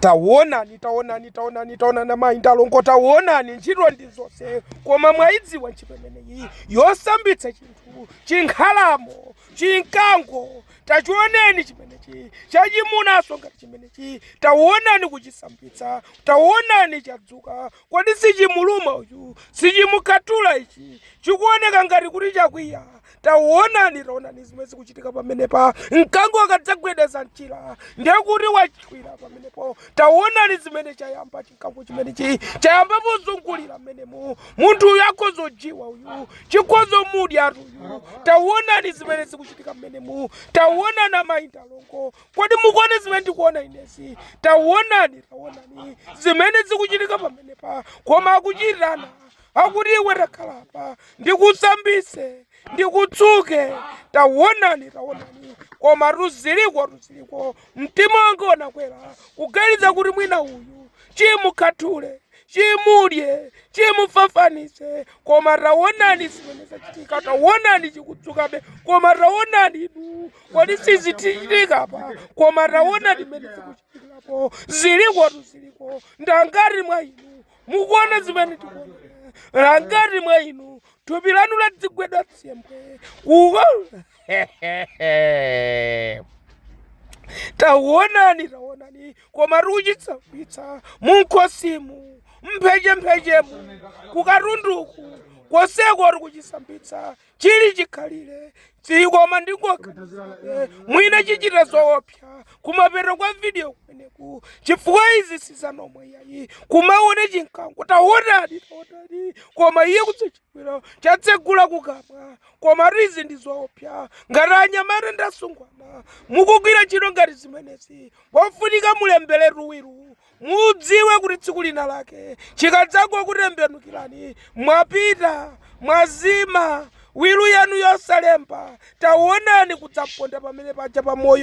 tawonani tawonani tawonani tawonani amayi nda alongo tawonani ntchito ndi zonse koma mwaidziwa ntchito imeneyi yosambitsa chinthu chinkhalamo chinkango tachioneni chimenechi chachimunaso ngati chimenechi tawonani kuchisambitsa tawonani chadzuka Kodi sichimuluma uyu? Sichimukhatula ichi? Chikuoneka ngati kuti chakwiya. Taonani, taonani zimene zikuchitika pamenepa. Mkango akadzagwedeza mchira, ndiye kuti wakwiya pamenepo. Taonani zimene chayamba chinkango chimenechi chayamba pozungulira mmenemu. Munthu uyu akhoza kudyiwa uyu, chikhoza kumudya uyu. Taonani zimene zikuchitika mmenemu. Taonani amayi nda alongo kodi mukuona zimene ndikuona inezi tawonani tawonani zimene zikuchitika pamenepa koma akuchitirana akuti iwe takhalapa ndikusambise ndikutsuke tawonani tawonani koma tu ziliko tu ziliko mtima wanga unakwera kuganiza kuti mwina uyu chimukhathule chimudye chimufafanise koma tawonani zimene zachitika tawonani chikutsukabe koma tawonani inu kodi si zikuchitika apa koma taonani zimene zikuchitikirapo zilikotu ziliko ndangati mwa inu mukuona zimene ndikuona ngati mwa inu thupi lanu ladzigwidwa tsembwe kuko tawonani tawonani koma akuchisambitsa munkhosimu mphechemphechemu kukatunduku konseko akuchisambitsa chili chikhalire sikoma ndingoka mwina chichita zoopsa kumapeto kwa video kumeneku chifukwa izi si za normal yayi kumaona chinkango taonani taonani koma iye kutsachibwira chatsegula kukamwa komatu izi ndi zoopsa ngati anyamata ndasungwana mukugwira ntchito ngati zimenezi pofunika mulemberetu wilu Mudziwe kuti tsiku lina lake chikadzagokutembenukirani, mwapita, mwazima, wilu yanu yosalemba, taonani kudzaponda pamene paja pa moyo.